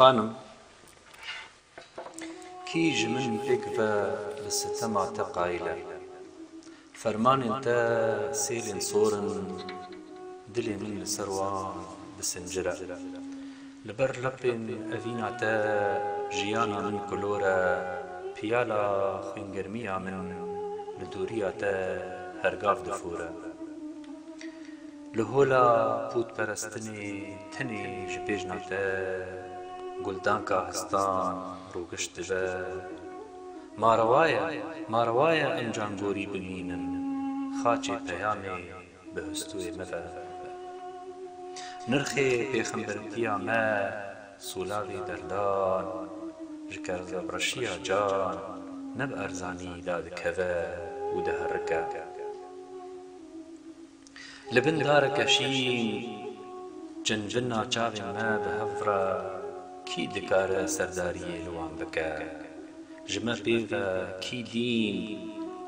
Xanim, kî ji min pêk ve bi sitema te qayîl e? Fermanên te sêlên sor in, dilê min li ser wan disincire. Li ber lepên evîna te jiyana min kulor e, piyala xwîngermiya min li dûriya te hergav difore. Li hola pûtperestinê tenê ji bêjna te Guldanka Histan rûgiş dibe. Ma rewa ye, ma rewa ye em cangorî bimînin, xaçê peyamê bi hustûyê me ve be. Nirxê pêxemberitiya me sûlavî berdan ji kevreşiya can ne bi erzanî dadikeve û diherike. Li bin dareke şîn çinbina çavên me bi hev re kî dikare serdariyê li wan bike? Ji me pê ve kî dîn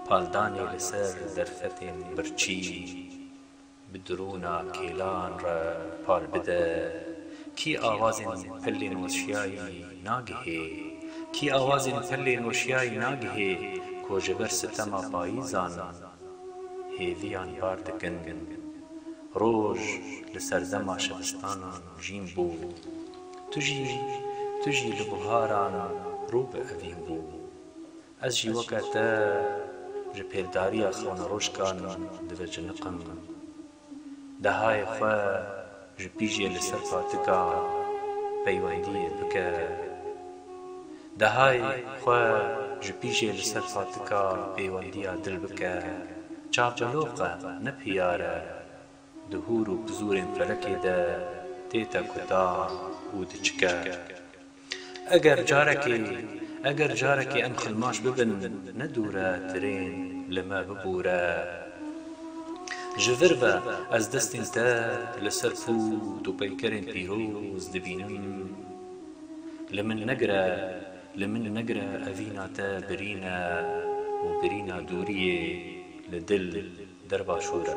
paldanê li ser derfetên birçî bi dirûna kêlan re pal bide? Kî awazên pelên weşiyayî nagihê? Kî awazên pelên weşiyayî nagihê ku ji ber sitema payîzan hêviyan bar dikin, roj li serdema şebistanan jîn bû, tu jî tu jî li buharan rû bi evîn bû. Ez jî weke te ji pêldariya xewneroşkan diveciniqim. Dehayê xwe ji pîjê li ser patika peywendiyê bike. Dehayê xwe ji pîjê li ser patika pêwendiya dil bike. Çapeloq e, ne piyar e. Di hûr û pizûrên felekê de tête kutan û diçike. Eger carekê, eger carekê em xilmaş bibin, ne dûr e tirên li me bibûre. Ji vir ve ez destên te li ser pût û peykerên pîroz dibînim. Li min negire, li min negire evîna te birîn e û birîna dûriyê li dil der başûr e.